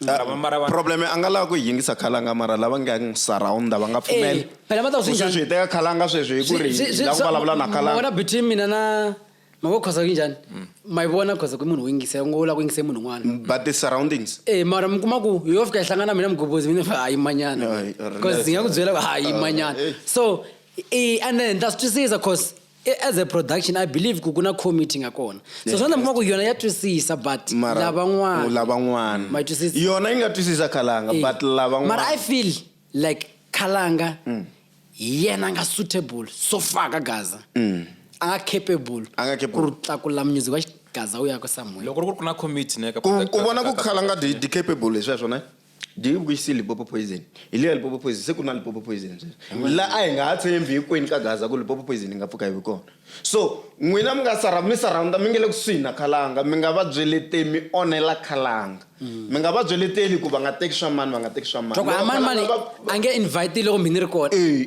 Mara va- mara va- problem a nga lava ku yi yingisa khalanga mara lava nga n'wi surrounda va nga pfumeli Eh, phela va ta ku swi Ku njhani? sweswi hi teka khalanga sweswi hi ku ri Swi- swi- la ku swi- vulavula na ma- khalanga wena between mina na mavo khosa yi njhani ma yi vona khosa ku i munhu wo yingisa ngo la ku yingisa i munhu un'wana but the surroundings Eh mara mi kuma ku yo fika yi hlangana mina mugobozi mina fa hayi manyana Hayi, or because less. ndzi nga ku byela ku hayi Ah, manyana eh. so i and then ta swi twisisa cause E, as a production i believe ku ku na committee nga kona so swa ndla mi kuma ku yona ya twisisa but Mara- lavan'wana u lavan'wana Ma yi twisisa? yona yi nga twisisa khalanga Eh, but mara i lavan'wana Mm. feel like khalanga hi yena a nga suitable so far ka gaza a nga capable Mm. A nga capable. ku ri tlakula music wa xigaza wu ya ka somewhere loko ri ku ri ku na committee ne ka ku ku vona ku khalanga di di capable hi sweswo ne do you wish Limpopo poison hi leya Limpopo poison se ku na Limpopo poison sweswi la a hi nga ha tshembi hinkwenu ka gaza ku Limpopo poison yi nga pfuka yi vi kona so n'wina mi nga sara mi surrounda mi nge le kusuhi na khalanga mi nga va byeleteli mi onhela khalanga mm. mi nga va byeleteli ku va nga teki swa mani va nga teki swa mani a nge invite loko mi ni ri kona eh,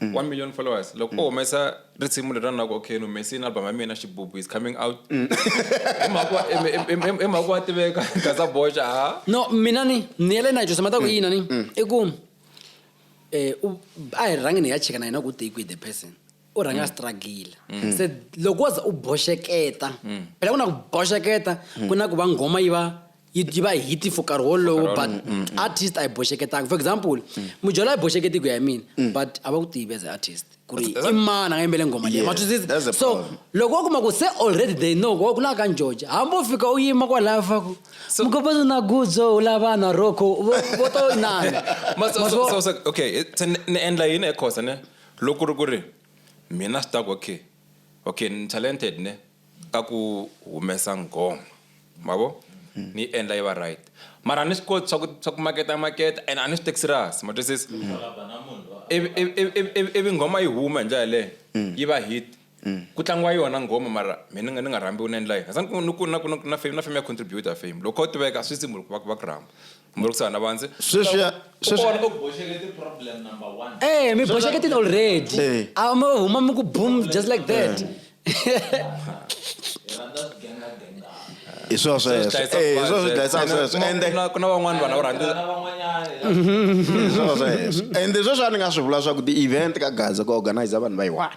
mm. 1 million followers loko mm. o humesa risimu leri ranaka okay ni humese yini album ya mina xibubu is coming out mm. emhaka wa tiveka gaza boxa ha no mina ni ni yele na jose mataku mm. yina ni mm. i ku eh a hi rhangi ni ya cheka na yena ku take with the person u rhanga struggle se loko waza u boxeketa phela ku na ku boxeketa ku na ku va nghoma yi va yi yi va hit for nkarhi wolowo but mm, mm. artist a yi boxeketanga for example mm. mudyolo a yi boxeketi ku ya hi mina but a va ku tivi as artist ku ri i mani a nga yimbele nghoma leyi matwisisa so loko wa kuma ku se already they know ku lava ka njoja hambi u fika u yima kwalaya faku mukopezi na gudzo u lava na roko vo to inana okay se ni endla yini ekhosa ne loko ri ku ri mina swi ta ku okay okay ni talented ne ka ku humesa nghoma ma vo hmm. ni yi endla yi va right mara a ni swi koti swa ku swa ku maketa maketa and a ni swi teki serious ma twisisa ivi nghoma yi huma hi ndlela yaleyo hmm. yi va hit hmm. ku tlangiwa yona nghoma mara mina ni nga rhambiwi ni endla yini sa ni ku na na fame ya contributor fame loko u tiveka swi simple ku va ku va ku rhamba mbhurisana vandzi sweswi ya- sweswi Kona u- Eh, mi boxeketile already Eh. a mi huma mi ku boom just like that hi swona sweswo Swi hlayisa Eh, hi swona swi vuvabyi. dlayisaka sweswo Kuma- ende kuna- kuna van'wana vanhu va rhandza hi swona sweswo ende sweswi a ni nga swi vula swa ku ti-event ka gaza ku organize vanhu va yi one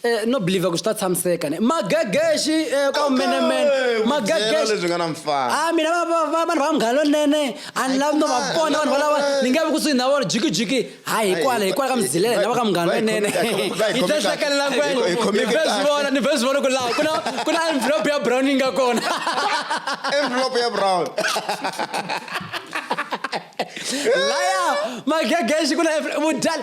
Eh, no believer ku swi ta tshamiseka ne magegexi eh, ka umenemene Eh, ku byela leswi nga na mfana. Ah, mina va- va- va- vanhu va munghana lonene a ni lavi no va Ai, vona vanhu valava ai. ni nge vi kusuhi na vona jikijiki hayi hikwala Ai, hikwala ka mzilele va- lava ka munghana va- va- lonene va- va- va- yi ta hlakalela va- va- va- va- ni va- vhe swi vona ni vhe swi vona ku laha ku na ku na envelope ya brown yi nga kona envelope ya brown laya magegexi ku na envelope- vudyala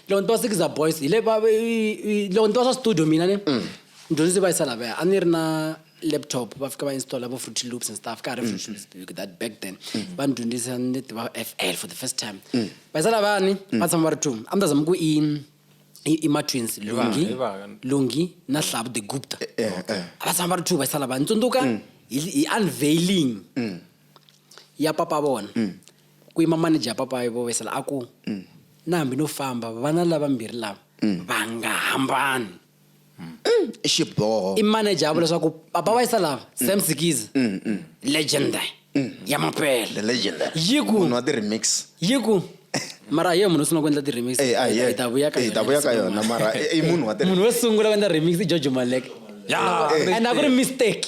loko ni twa sikiza boys hi le va- i- i- loko ni twa swa studio mina ni Mm. ndyondzisi va yisa lavaya a ni ri na laptop va fika va installa vo fruity loops and stuff ka ha ri Mm. fruity loops because that back then va ni dyondzisa ni tiva fl for the first time Mm. va yisa lavayani va tshama va ri two a ni ta zama ku i i i ma-twins lungi hi vanga. lungi na hlavu the gupta Eh, eh. a va tshama va ri two va yisa lavayani tsundzuka hi hi unveiling ya papa vona Ku yima manija Papayo vo vesela a ku, Na hambi no famba, vana lavambirhi lava va nga hambani. I xiboho. I manija a vula leswaku Papa va yisa lava, Sam Sikiza, legend ya mampela. The legend. Yi ku. Munhu wa ti-remix. Yi ku, mara a hi yena munhu wo sungula ku endla ti-remix. Eh, a hi yena. Hi ta vuya ka Hi ta vuya ka yona, mara i- i munhu wa ti- Munhu wo sungula ku endla remix i George Maleka. Ya, Eh, and a ku ri eh. mistake.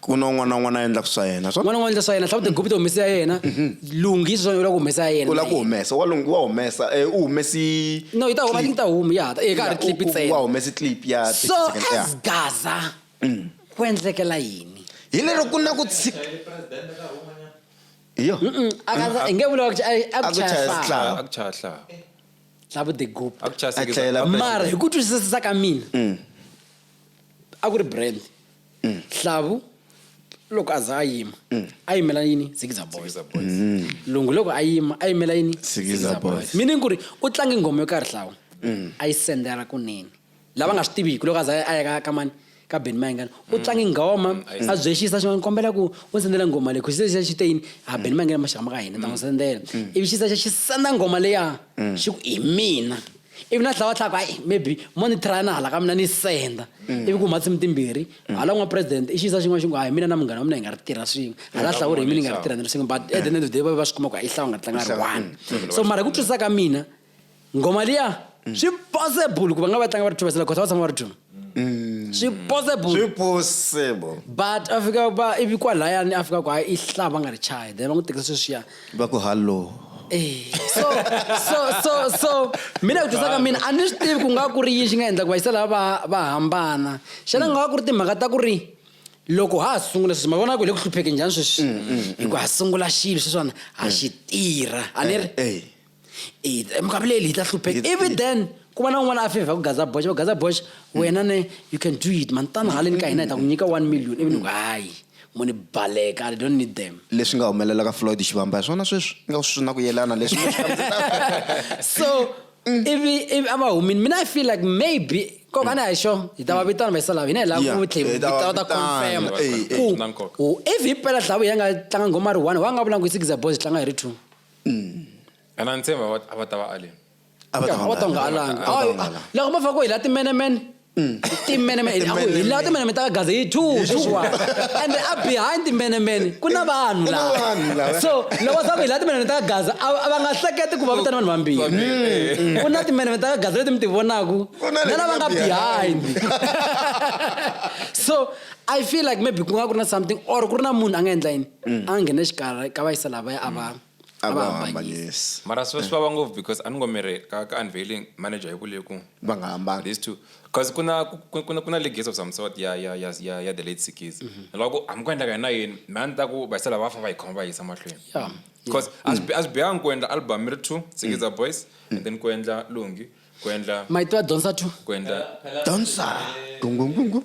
ku na un'wana na un'wana a endlaka swa yena un'wana un'wana endla swa yena hlawumbe tigupita humesa ya yena mm-hmm. lunghisa swa u lava ku humesa ya yena u lava ku humesa wa lungu wa humesa eh, u humesi no yi ta huma yi ta huma ya ta eka eh, ha ri clip ntsena wa humesi clip ya so as gaza mm. ku endlekela yini hi lero ku na ku tshika iyo akaza nge vula ukuthi akuchaya sihla labo the group mara hi ku twisisa ka mina mm. a ku ri brand hlavu loko a za a yima a yimela yini zikiza boys Zikiza Boys. Mm. lungu loko a yima a yimela yini Zikiza Boys. meaning ku ri u tlange nghoma yo karhi hlawu a yi sendela kunene lava nga swi tiviki loko a za a ya ka- ka mani ka ben mayingani u tlange nghoma a byexisa xin'wana kombela ku u ndzi sendela nghoma leyi khusisa xa xiteyini ha ben mayingani maxaka ma ka hina ta n'wi sendela ivi xisa xa xi senda nghoma leya xi ku hi mina ivi na tlhela va tlhaka hayi maybe mo ni thrayana hala ka mina ni senda mm. ivi ku huma tsimi timbirhi mm. hala n'wa president i xiyisa xin'wana xi ngo hayi mina na munghana wa mina hi nga ri tirha swin'we mm. hala hlawuri hi mina hi nga ri tirha ni ri swin'we but at the end of the day va ve va swi kuma ku i hlawu nga tlanga ri one so mara hi ku twisisa ka mina ngoma liya swi possible ku va nga va tlanga va ri two vasela kota va tshama va ri two mm. swi possible swi possible but a fika ba ivi kwalayani a fika ku hayi i hlaya va nga ri chayi then va n'wi tekisa sweswiya va ku hallo eh, so so so so mina ku tisa ka mina a ni swi tivi ku nga ku ri yini xi nga endla ku vayisa lava va va hambana xana nga ku ri timhaka ta ku ri loko ha ha sungula sweswi ma vona ku hi le ku hlupheke njhani sweswi mm, mm, mm. hi ku ha sungula xilo sweswiwana ha xi tirha a ni ri eh, eh. e minkarhi leyi hi ta hlupheka ivi then ku va na un'wana a fevha ku gaza boxe va gaza boxe wena ne you can do it mani tana haleni ka hina hi ta ku nyika one million ivi ni ku hayi muni baleka i don't need them leswi nga humelela ka floyd xivamba hi swona sweswi nga swi na ku yelana leswi so ivi ivi a va humini mina i feel like maybe nkoka a ni hi xo hi ta va vitana vayisa lava hina hi lava ku tlhela vitana ta confirm ku if hi pela dlavu hi ya nga tlanga nghoma ri one wa nga vula ku i six boys tlanga hi ri two a na ni tshemba a va- a va ta va aleni a va ta va nga nga alangi A va ta va nga alangi. loko mo fa ku hi la timenemene timenemene a ku hi la timenemene ta ka gaza hi two sweswiwa and a behind timenemene ku na vanhu Ku na laha. vanhu laha. so loko sa ku hi la timenemene ta ka gaza a a va nga hleketi ku va vitana vanhu vambirhi Vambirhi. ku na timenemene ta ka gaza leti mi ti vonaku Ku na leti na lava nga nga behind so i feel like maybe ku nga ku ri na something or ku ri na munhu a nga endla yini a nghene xikarhi ka vaisa lavaya a va a va hambanyisa. Mara swi va swi vava ngopfu because a ni ngo mi ri ka ka unveiling manager yi vule ku Va nga hambani. these two cause ku na ku ku na ku na legacy of some sort ya ya ya ya ya the late Sikizi ni lava ku hambi ku endleka yini na yini me a ni ta ku vaisa lava va fa va yi khoma va yi yisa mahlweni Yeah, cause a swi bi- a swi bihangi ku endla album mi ri two Sikiza boys and then ku endla Lungi ku endla Ma yi tiva Donsa two? ku endla Dancer. Gungungungu.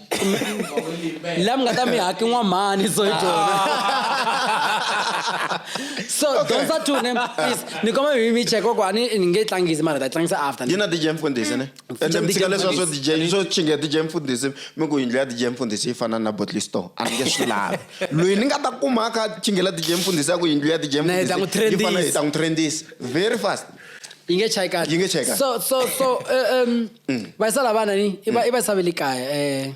la mi nga ta mi haki n'wamhani so hi byona so dyondza two ne please ni koma mi mi check koko a ni ni nge tlangisi mara ta tlangisa after yi na dj mfundhisi ne Mm. ende mi tshika leswa swo dj swo chinga dj mfundhisi mi ku yindlu ya dj mfundhisi yi fana na bottle store a ni nge swi lavi loyi ni nga ta kuma a kha a chingela dj mfundhisi a ku yindlu ya dj Na hi ta n'wi mfundhisi yi fana hi trendisa. ta n'wi trendisa very fast yi nge chayi kahle Yi nge chayi kahle. so so so eh, um mm. va yisa la vana ni i va mm. yisa ve le kaya um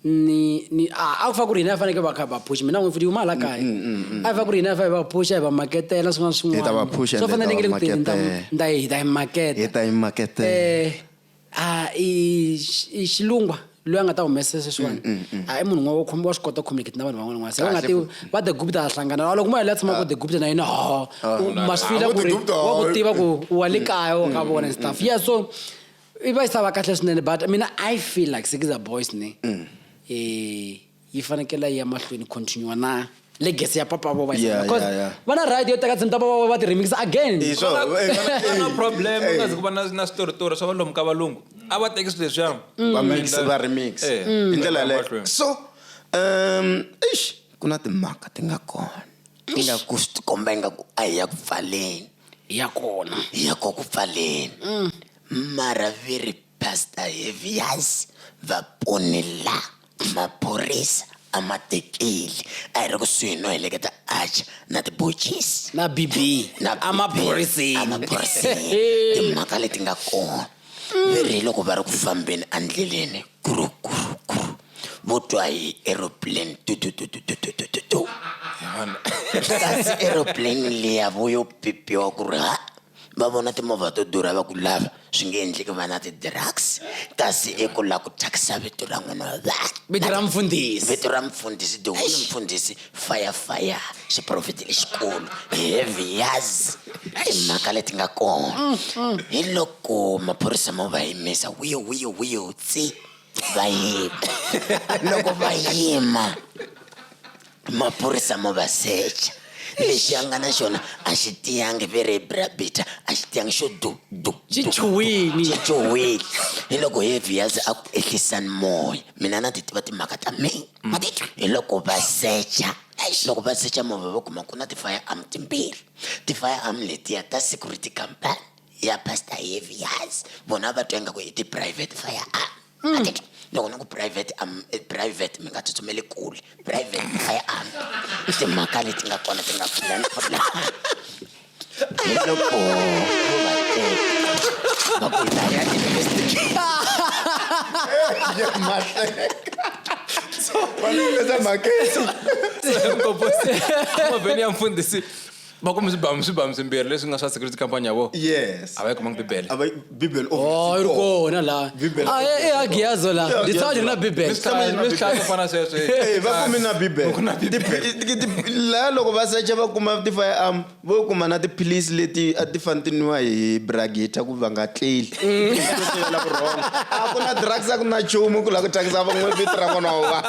ni ni a ku fa ku ri hina ya fanekele va kha va phuxa mina n'wi futhi huma hala kaya mm, mm, mm, a yi fa ku ri hina ya fa hi va phuxa hi va maketela swin'wana swin'wanaswo fanele ni nge le ku tirheni ta hi ta hi maketa hi ta hi maketela eh, a i xilungwa loyi a nga ta humesa sweswiwani mm, mm, mm. a i munhu n'wana wo khoma wa swi kota communicate na vanhu van'wana n'wana se va nga ti va the gupta a hlangana a loko mo yela tshama ku the gupta na yena ho ah, ma swi fila ku ri wa ku tiva ku wa le kaya wa ka vona stuff yeah so i va yi sava kahle swinene but mina i feel like sikiza boys ne um yi fanekele yi ya mahlweni continue na legacy ya papa vo va Yeah, because yeah, yeah. va na right yo teka tintoma va va ti remix again Hi swo- eh, eh, na problem eh, ungazi ku va na na switoritori swa valomu ka valungu a va teki swilo leswiya va mix va remix Eh, hi ndlela yaleyo mahlweni. so um eish ku na timhaka ti nga kona ti nga ku swi tikomba ingaku a hi ya ku pfaleni ya kona hi ya ko ku pfaleni mara viri pasta hevias va ponela Maphorisa a ma tekeli a hi ri kusuhi no heleketa Arch na tibochisi na BB na a maphoriseni emaphoriseni timhaka leti nga kona ve ri loko va ri ku fambeni endleleni kurukuru vo twa hi aeroplane tutututututututu kasi aeroplane liya vo yo pipiwa ku ri ha va vona timovha to durha va ku lava swi nge endleki va na ti-drugs kasi i ku la ku thyakisa vito ra n'wana wa vanhu vito ra mfundhisi vito ra mfundhisi the whole mfundhisi fire fire xiprofeti lexikulu heavy yazi timhaka leti nga kona mm, mm. hi loko maphorisa ma va yimisa wiyo wiyo wiyo tsi va yima loko va yima maphorisa mo va secha lexi a nga na xona a xi tiyangi very brabita a xi tiyangi xo du du xi chuhwini xi chuhwini hi loko heavy yazi a ku ehlisani moya mina na ti tiva timhaka ta mina mm. ma ti twa hi loko va secha loko va secha movha va kuma ku na ti-fire arm timbirhi ti-fire arm letiya ta security company ya pastor heavy yazi vona va twa ingaku hi ti-private fire arm mm. loko ni ku private um, private mi nga tsutsumeli kule private a yi ami i timhaka leti nga kona ti nga pfulani hi loko va ku ta ya investigate Esa maqueta. Como você? Como venía a fundir va kume swibamu swibamu swimbirhi leswi nga swa security company ya vona yes a va yi kumanga bibele a va bibele o Oh, yi ri kona laha Bibele. Ah, eh, eh, agiyazo laha Yeah, ndzi tshama ndzi ri na Agiyazo. bibele Ndzi tshama ndzi ri na Ndzi tshama- Bibele. fana sweswo Eh, va kume na Ku na bibele Ti- ti- laha loko va secha va kuma ti-fire arm vo kuma na tiphilisi leti a ti fani ti nwiwa hi bragita ku va nga tleli Mm. Swo sivela vurhongo. a ku na drugs a ku na nchumu ku lava ku thyakisa van'we vito ra vona wa vanhu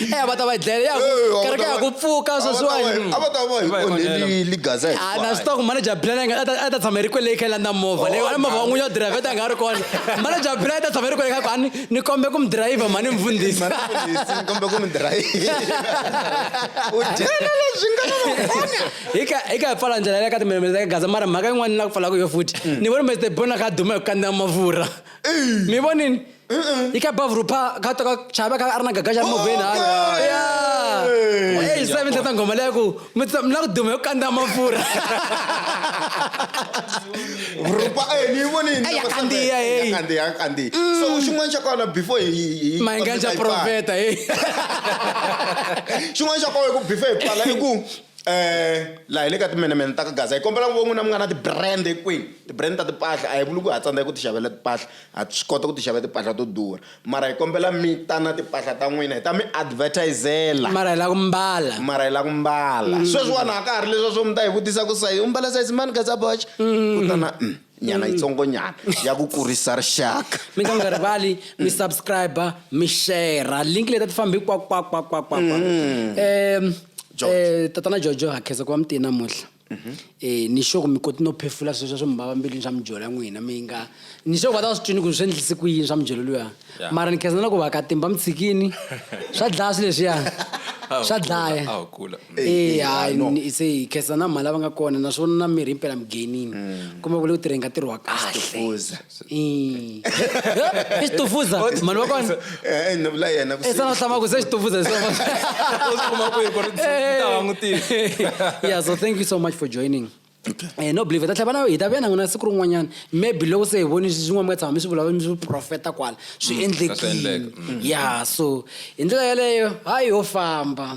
e va ta va dlele ya kereke ya ku pfuka sweswiwani a va ta va hi onheli ligaza a na swi tiva ku manager plan a ta tshama ri kwele kha landa movha leyi a movha wan'wini yo driver ta nga ri kona manager plan a ta tshama ri kwele kha ku ani ni kombe ku mi driver mhani mfundhisi kombe ku mi driver u dyela leswi nga nakona hi ka hi ka pfala ndlela ya ka timemele ta gaza mara mhaka yin'wana ni la ku pfalaka yo futhi ni voni mr bona kha duma hi ku kandziya mafurha mi vonini Ika bav rupa ka to ka chava ka arna gaga jam move na. Yeah. Hey, sa mi tata ngoma leku. Mi tata mna kudume ukanda mafura. Rupa eh ni voni ni. Aya kandi ya hey. Kandi ya kandi. So xin'wana xa kona before hi hi. Mayenga xa profeta hey. Xin'wana xa kona ku before hi pala i ku eh la hi le ka timenemene ta ka gaza hi kombela ku von'wina mi nga na ti-brand kwini ti-brand ta timpahla a hi vuli ku ha tsandzeka ku ti xavela timpahla Ha swi kota ku ti xavela timpahla to durha, mara hi kombela mi ta na timpahla ta n'wina hi ta mi advertise-ela. Mara hi lava ku mbala. Mara hi lava ku mbala. Sweswiwani a ka ha ri leswiya swo mi ta hi vutisa ku sayizi, u mbala sayizi mani Gazaboch? Ku ta na uhm nyana yitsongonyana ya ku kurisa rixaka. Mi nga rivali mi subscriber mi share-ra link leti a ti fambi kwakwakwakwakwakwa. Tatana Jojo ha khensa ku va mi te namuntlha. Mhm. e ni sure ku mi koti no phefula sweswo swo mi vava mbilwini swa mijolo ya n'wina mi nga ni sure ku va ta va swi twini ku swi endlise ku yini swa mijolo luya mara ni khezana ku va ka timba mi tshikini swa dlaya swi leswiya swa dlaya e hayi se hi khezana mhani lava nga kona naswona na mirhi impela mi gainini mm. kumbe ku le ku tirheni ka ntirho wa kahle isitufuza mani wakona Eh, eh, no, la yena vusiku. esana hlama ku se xitufuza hi swona. U swi kuma kwihi ku ri ndzi ta langutisa? yeah so thank you so much for joining Eh, no believe ta tlhava na hi ta vuya na n'wina siku rin'wanyana maybe loko se hi voni swin'wana mi nga tshama mi swi vulavula mi swi profeta kwala swi endlekile endleka. ya so hi ndlela yeleyo hayi yo famba